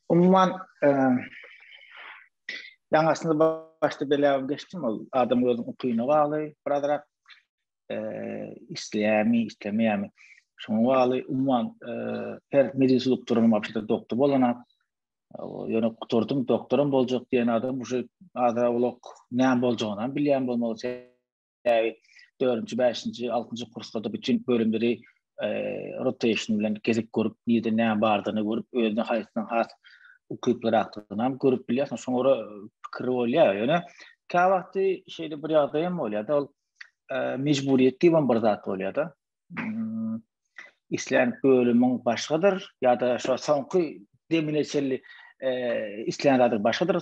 Umuman, ýaňy aslynda başda belläp geçdim, ol adam özüniň ukyna bagly, birazrak isleýärmi, islemeýärmi, şoňa bagly. Umuman, her medisinaluk duralma wagtynda doktor bolana, ýöne gutardym, doktoram boljak diýen adam uje azrak-owlak näme boljagyny hem bilýän bolmaly Bäri dördünji, bäşinji, altynjy kurslarda bütün bölümleri e, rotation bilen gezip görüp, nirde näme bardygyny görüp, özüne haýsynyň has ukyplyrakdygyny hem görüp bilýärsiň. Soňra pikir bolýar. Ýöne kä wagty şeýle bir ýagdaý hem bolýar-da, ol e, mejburyýet diýip bir zat bolýar-da. Hmm, islän bölümiň başgadyr ýa-da şu soňky demine çenli e, islän zady başgadyr.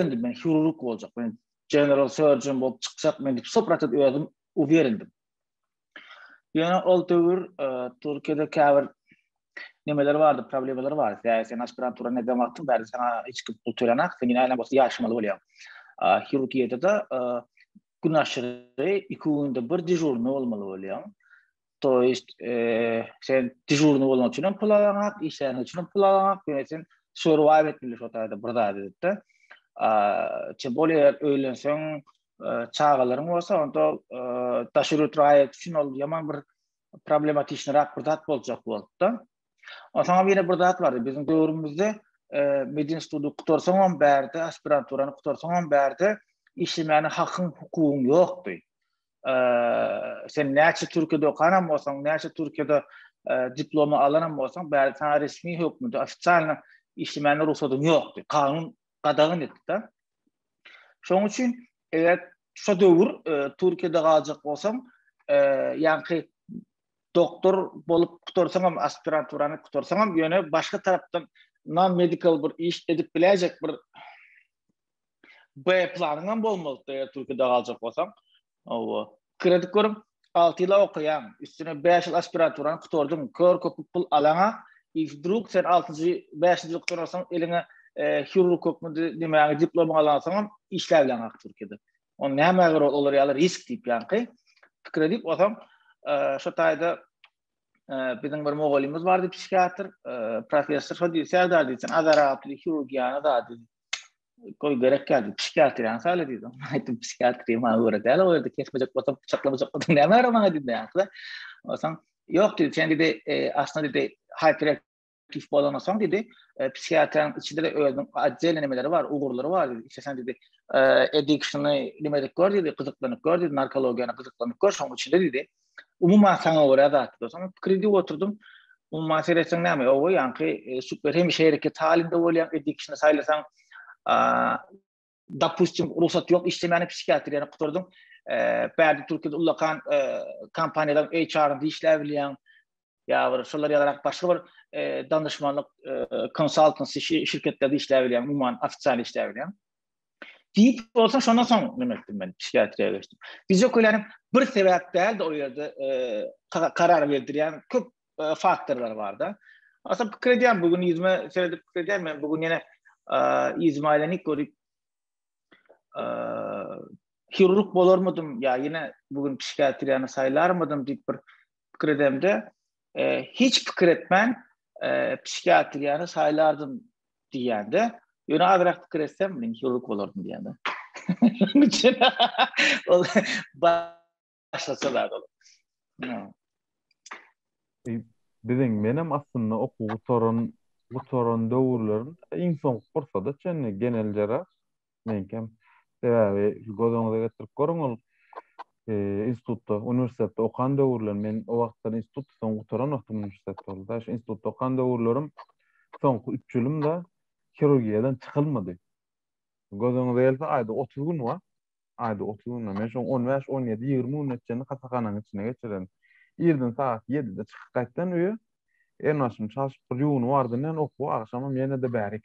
indi men hirurg boljak men general surgeon bolup çykjak men dip soprat edip özüm uwerindim ýöne ol döwür e, türkiýede käbir nemeler bardy problemalar bar sen sen aspirantura ne demek wagtyň bäri sana hiç kim pul tölenak sen ýene aýlan bolsa ýaşamaly bolýar hirurgiýada da e, gün aşyry iki günde bir dežurny bolmaly bolýar To ist sen dejurny bolmak üçin hem pul alanyp, işleň üçin hem pul alanyp, ýöne sen survive etmeli şu taýda bir zat edipde. A, çe bolýa eger öýlenseň, çagalaryň bolsa, onda daşury traýek üçin ol ýaman bir problematiki rak bir zat boljak bolupda. Onsoň hem ýene bir zat bardy. Biziň döwrümizde medin study gutarsaň hem bärde, aspiranturany gutarsaň hem bärde işlemäne hakyň, hukugyň ýokdy. sen näçe Türkiýede okanan bolsaň, näçe Türkiýede diplomy alan bolsaň, bäri sana resmi hökmünde ofitsialny işlemäne rugsadyň ýokdy. Kanun gadagan etdi-de. Şoň üçin eger şu döwür Türkiýede galjak bolsaň, ýa-da doktor bolup gutarsaň hem aspiranturany gutarsaň hem ýöne başga tarapdan non-medical bir iş edip biläýjek bir B planyňam bolmalydy eger Türkiýede galjak bolsaň. Owa. Pikir edip görüň, 6 ýyla okaýaň, üstüne 5 ýyl aspiraturany gutardyň, kör köpük pul alaňa, i wdruk sen 6-njy, 5-nji ýyl gutararsoň eliňe e, hirurg hökmünde nämäňe diplomyňy alansoňam işläp bilen hak Türkiýede. On näme göre olar ýaly risk diýip ýanky. Pikir edip olsaň, e, şu taýda e, biziň bir mugallymymyz bardy psihiatr, e, professor, şo diýdi, Serdar diýdi, sen azara atly hirurgiýana da diýdi. Goý gerek geldi. Psikiatr ýa sala diýdi. Aýtdym psikiatr ýa göre däl o ýerde kesmejek bolsa pyçaklamajak bolsa näme ýara maňa diýdi. Ýa-da osaň ýok diýdi. Sen diýdi e, aslynda diýdi hyperaktiv bolan osaň diýdi. E, psikiatrň içinde de özüň atdelne nemeleri bar, ugurlary bar diýdi. Sen diýdi e, addiction-y nimedik gör diýdi, gyzyklanyp gör diýdi, narkologiýany gyzyklanyp gör, şoň içinde diýdi. Umuman saňa görä zatlar. Saňa pikir edip oturdym. Umuman seretseň näme? Owa, ýaňky e, super hemişe hereket halinde bolýan edik kişini saýlasaň, dopustim, rugsat ýok, işlemäni psihiatriýany gutardyň. E, Bärde Türkiýede ullakan e, kompaniýalar HR-de işläp bilýän. ýa bir şolar ýalyrak başga bir e, danışmanlyk e, konsultansi şirketlerde işläp bilýän, umuman ofitsial işläp bilýän. Diýip bolsa şondan soň nima etdim men psihiatriýa geçdim. Fiziokulýanyň bir sebäp däl de o ýerde e, karar berdirýän köp e, faktorlar barda. Asa pikir edýän bu gün ýüzüme seredip pikir edýän men bu gün ýene ýüzüme aýlanyp görüp hirurg bolarmydym ýa ýene bu gün psihiatriýany saýlarmydym diýip bir pikir edemde, e, hiç pikir etmän e, psihiatriýany saýlardym diýende, ýöne azrak pikir etsem, men hirurg bolardym diýende. Şonuň üçin ol başgaça zat ol. Biziň menem aslynda okuw gutaran gutaran döwürlerim iň soňky pursada çenli genel jera meňkem. Sebäbi göz öňüňize getirip görüň, ol institutda, uniwersitetde okan döwürlerim, men o wagtlar institutda soň gutaran wagtym uniwersitet boldy-da, şu institutda okan döwürlerim soňky üç ýylym-da hirurgiýadan çykylmady. Göz öňüňize gelse, aýda otuz gün bar, aýda otuz gün bar. Men şoň on bäş, on ýedi, ýigrimi gününe çenli hasahananyň içinde geçiren. Irden sagat ýedide çykyp gaýtdan öýe, elmaşymy çalşyp bir ýuwunyp ardyndan okuwa, agşamam ýene-de bärik.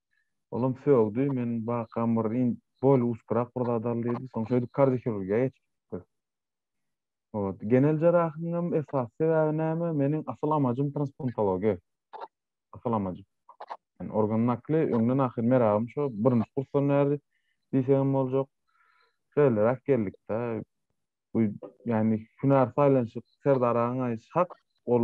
Olam sögdi, men bakam bir in boýly uçgurak bir zat al diýdi. Soň şeýdip kardiohirurgiýa geçip gitdi. Ot, genel jerahynyňam esasy sebäbi näme? Meniň asyl amajym transplantologiýa. Asyl amajym. Yani organ nakli öňden ahyr meragym şo, birinji kursdan bäri diýsegem boljak. Şeýleräk geldik-de. Bu ýany hünär saýlanyşy Serdar agaň aýdyşy hak, ol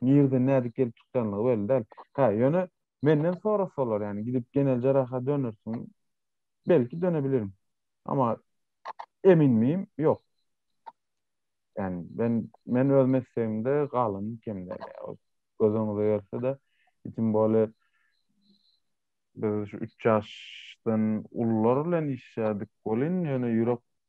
nireden nädip gelip çykýanlygy belli däl. Hä, ýöne menden sorasalar ýany gidip Genel Jarraha dönersiň, belki dönebilirim. Emma emin miyim? Ýok. Ýani men men öz meslegimde galan kem däl. Göz öňüňize gelse-de, itim bole biz şu üç ýaşdan ulular bilen işledik welin ýöne ýürek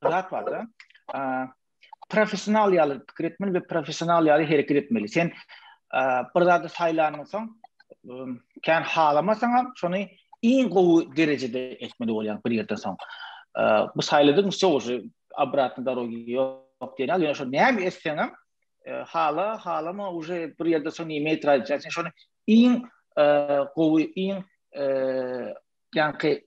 zat barda. Professional ýaly pikir etmeli we professional ýaly hereket etmeli. Sen bir zady saýlandan soň, kän halamasaň hem, şony iň gowy derejede etmeli bolýan bir ýerden soň. Bu saýladyň sowusy obratny dorogi ýok diýen ýaly, ýöne şo näme etseň hem, hala, halama uje bir ýerde soň näme etjeksen, şony iň gowy, iň Janky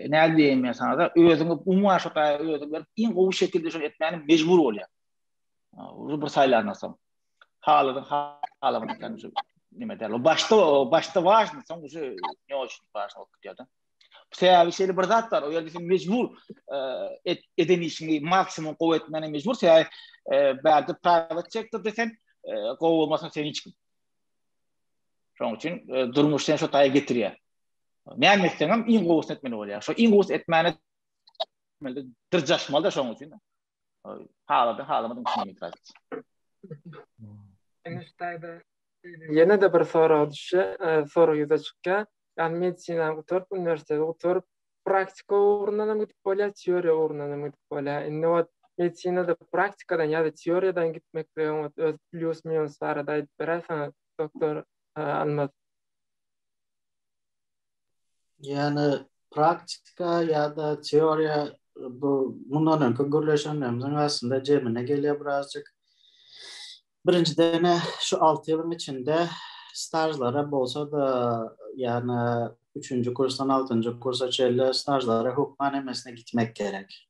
nädip diýeýin men sana-da, özüňi umuman şo taýa özüňi berip, iň gowy şekilde şony etmäne mejbur bolýaň. Ol bir saýlandan soň. Haladyň halaman ekeni şu nime däl. O başda, o başda wažny, soň şu ne üçin wažny bolup gitýär-de. Sebäbi şeýle bir zat bar, o ýerde sen mejbur eden işiňi maksimum gowy etmäne mejbur, sebäbi bärde private sektorda sen gowy bolmasaň sen hiç kim. Şonuň üçin durmuş seni şo taýa getirýär. Näme etseňem iň gowusyny etmeli bolýar. Şo iň gowusy etmäne etmeli, dyrjaşmaly-da şoň üçin. Haladyň, halamadyň üçin itiraz et. Eniştäde ýene de bir sorag düşýä, sorag ýüze çykýa. Ýagny medisinany gutaryp, uniwersiteti gutaryp, praktika ugrundan hem gidip bolýa, teoriýa ugrundan hem gidip bolýa. Indi ot medisinada praktikadan ýa-da teoriýadan gitmekligiň ot öz plýus-minus barada aýdyp berersiňiz, doktor Almaz? Ýani praktika ýa-da teoriýa bu mundan öňki gürleşenlerimiziň aslynda jemine gelýär birazjyk. Birinjiden şu alty ýylyň içinde stažlara bolsa-da ýani üçünji kursdan altynjy kursa çenli stažlara hökman hemmesine gitmek gerek.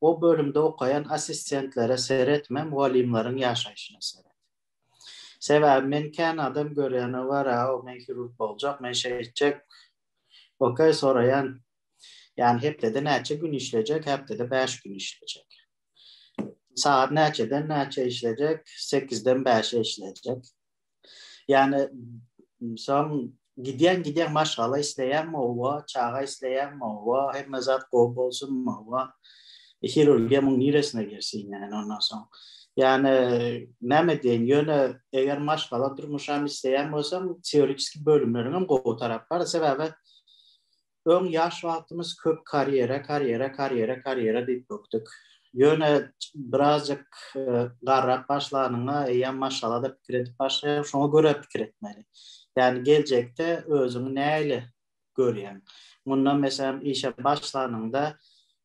O bölümde okaýan assistentlere seretme, mugallymlaryň ýaşaýşyna seret. Sebäbi men kän adam görýän-a wara-ow men hirurg boljak, men şeýtjek, ok, soraýan, ýany hepdede näçe gün işlejek, häptede bäş gün işlejek. Sagat näçeden näçä işlejek, sekizden bäşe işlejek. Yani son gidýän gidýän maşgala isleýän owa, çaga isleýän owa, hemme zat gowy bolsun owa. E, hirurgiýa muň niresine girsin yani ondan soň. Yani näme diýen, ýöne eger maşgala durmuşam isleýän bolsaň, teoriçki bölümleriň hem gowy tarapy bar. Sebäbi Öň ýaş wagtymyz köp karýera, karýera, karýera, karýera diýip bökdük. Ýöne birazjyk garrap başlanyňda eýýäm maşgalada pikir edip başlaýaň, şoňa görä pikir etmeli. Ýagny geljekde özüňi nähili görýäň? Mundan meselem işe başlanyňda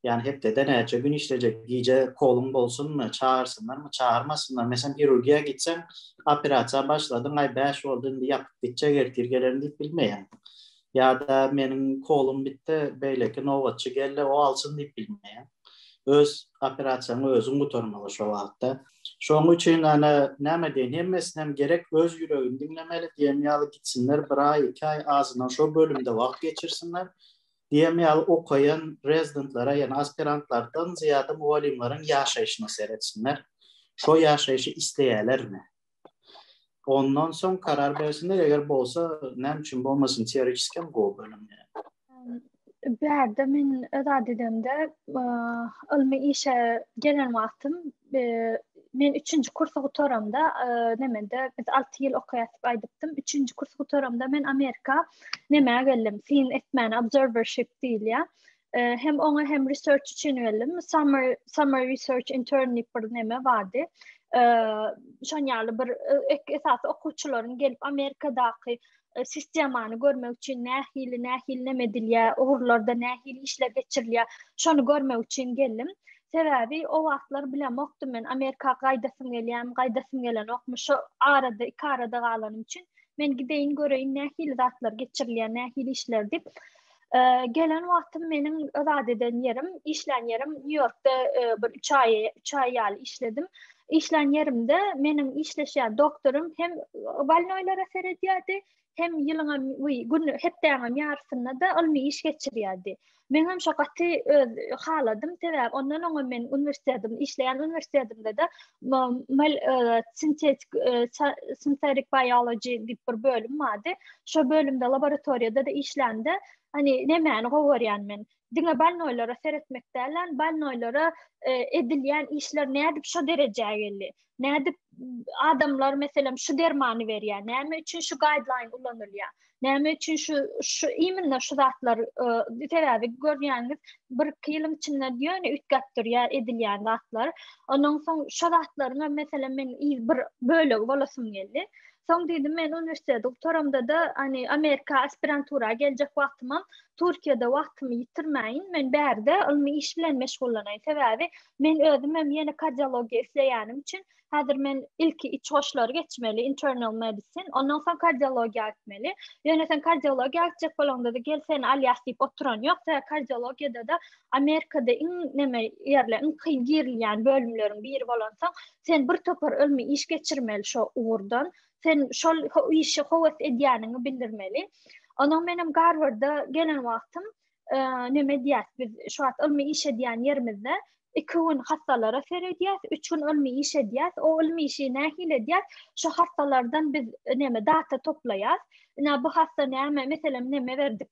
Ýani hepdede näçe gün işlejek, gije koluň bolsunmy, çagyrsynlarmy, çagyrmasynlar. Meselem, hirurgiýa gitseň, operasiýa başladyň, aý bäş boldy, indi ýapyp gitjek, ertir gelerin diýip bilmeýäň. Ýa-da meniň kolum bitdi, beýleki nobatçy geldi, o alsyn diýip bilmeýäň. Öz operasiýaňy özüň gutarmaly şo wagtda. Şoň üçin ýöne näme diýen, hemmesinem gerek öz ýüregini diňlemeli, diýen ýaly gitsinler, bir aý, iki aý azyndan şo bölümde wagt geçirsinler. Diýen ýaly okaýan rezidentlere, ýagny aspirantlardan zyýada mugallymlaryň ýaşaýşyna seretsinler. Şo ýaşaýşy isleýärlermi? Ondan soň karar bersinler, eger bolsa, näme üçin bolmasyn, teoretiki hem gowy bölüm. Bärde men öz adedemde ylmy işe gelen wagtym men üçünji kursy gutaramda nemede biz alty ýyl okaýardyk aýdypdym üçünji kursy gutaramda men amerika nämä geldim syn etmäni observership diýilýär hem oňa hem research üçin geldim summer summer research intern diýip bir neme bardy şon ýaly bir esasy okuwçylaryň gelip amerikadaky e, sistemany görmek üçin nähili nähili näme edilýär, ugurlarda nähili işler geçirilýär, şony görmek üçin geldim. Sebäbi o wagtlar bilemokdym men Amerika gaýdasym gelýän, gaýdasym gelenokmy. Şu arada, iki arada galanym üçin men gideýin göreýin nähili zatlar geçirilýär, nähili işler diýip. gelen wagtym meniň zat eden ýerim, işlän ýerim Nýu-Ýorkda bir 3 aý, 3 aý ýaly işledim. Işlän ýerimde meniň işleşýän doktorym hem balnoýlara seredýärdi, hem ýylyň hem gün hepdäň hem ýarysynda-da ylmy iş geçirýärdi. Men hem şo gaty öz haladym, sebäbi ondan oňa men uniwersitetim, işleýän uniwersitetimde-de sintetik sintetik biology diýip bir bölüm bardy. Şo bölümde laboratoriýada da işlände, hani nämäni gowy görýän men? Diňe balnoýlara seretmek däl, balnoýlara edilýän işler nädip şo derejä geldi? Nädip adamlar meselem şu dermany berýär? Näme üçin şu guideline ulanylýar? Näme üçin şu şu iminle şu zatlar e, sebäbi görýäňiz bir iki ýylyň içinde ýöne üýtgäp durýar edilýän zatlar. Ondan soň şu zatlaryň meselem men bir bölegi bolasym geldi. Soň dedim men uniwersiteti gutaramda da hani Amerika aspirantura geljek wagtym Türkiýede wagtymy ýitirmäýin. Men bärde ylmy iş bilen meşgullanaýyn. Sebäbi men özüm hem ýene kardiologiýa isleýänim üçin Häzir men ilki iç goşlary geçmeli, internal medicine, ondan soň kardiologiýa gitmeli. Ýöne sen kardiologiýa gitjek bolanda-da gel seni alýas diýip oturan ýok. Sebäbi kardiologiýada-da Amerikada iň näme ýerler, iň kyn girilýän bölümleriň biri bolansoň, sen bir topar ylmy iş geçirmeli şo ugurdan. Sen şol işe höwes edýäniňi bildirmeli. Onuň menem Garwarda gelen wagtym e, näme diýýäs biz şu wagt ylmy iş edýän ýerimizde iki gün hassalara seredýäs, üç gün ylmy iş edýäs. O ylmy işi nähili edýäs? Şu hassalardan biz e, näme data toplaýas. Ina bu hassa näme? Meselem, näme berdik?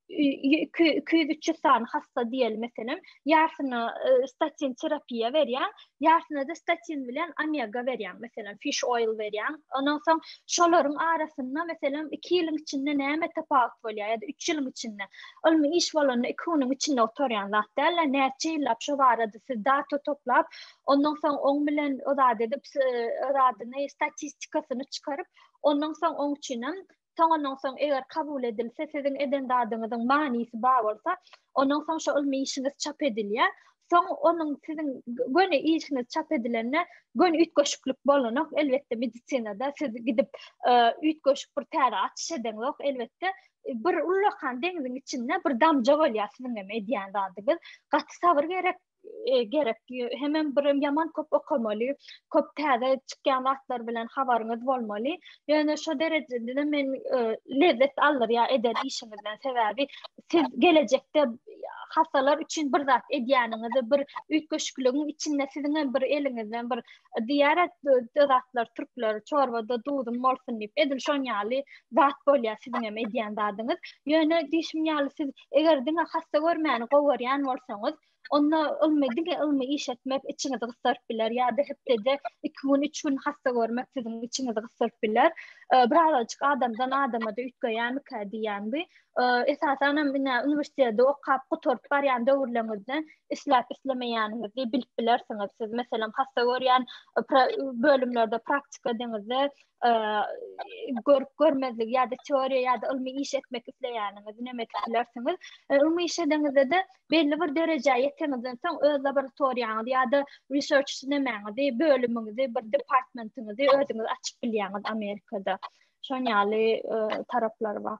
200-300 sany hassa diýeli meselem, ýarsyna e, statin terapiýa berýän, Ýaşyna-da statin bilen omega berýäň, meselem, fish oil berýäň. Ondan soň şolaryň arasynda, meselem, 2 ýylyň içinde näme tapawut bolýar ýa-da 3 ýylyň içinde? Ylmy iş bolanda 2 günüň içinde gutarýan zat däl-de, näçe ýyllap şo barada siz data toplap, ondan soň oň bilen o zat edip, o zadyny, statistikasyny çykaryp, ondan soň oň üçin hem Soňundan soň eger kabul edilse, siziň eden zadyňyzyň manysy bar bolsa, ondan soň şo ylmy işiňiz çap edilýär. Soň onuň siziň göni işiňiz çap edilende göni üýtgeşiklik bolanok. Elbetde medisinada siz gidip e, üýtgeşik bir täze açyş edeňok. Elbetde bir ullakan deňiziň içinde bir damja bolýar siziň hem edýän zadyňyz. Gaty sabyr gerek e, gerek. Hemem bir ýaman köp okamaly, köp täze çykýan zatlar bilen habaryňyz bolmaly. Ýöne şu derejede men e, lezzet aldyr ýa eden işiňizden sebäbi siz gelecekde hasalar üçin bir zat edýäniňizi, bir üýtgeşikligiň içinde siziň hem bir eliňizden bir diýarat zatlar türkler çorbada duzum bolsun diýip edil şon ýaly zat bolýar siziň hem edýän zadyňyz. Ýöne diýşim ýaly siz Eger diňe hassa görmäni gowarýan bolsaňyz, onda ylmy diňe ylmy iş etmek içiňizi gysdyryp biler ýa-da hepdede iki gün, üç gün hassa görmek siziň içiňizi gysdyryp biler. Birazajyk adamdan adama-da üýtgeýärmikä diýýän bu. Esasan hem ine uniwersiteti okap gutaryp barýan döwürleriňizde isläp-islemeýäniňizi bilip bilersiňiz. Siz meselem hassa görýän bölümlerde praktika edeňizde görüp görmezlik ýa-da teoriýa ýa-da ylmy iş etmek isleýäniňiz näme etmek bilersiňiz. Ylmy iş edeniňizde-de belli bir derejä ýeteňizden soň öz laboratoriýaňyzy ýa-da research nämäňizi, bölümiňizi, bir departmentiňizi özüňiz açyp bilýäňiz Amerikada. Şon ýaly taraplary bar.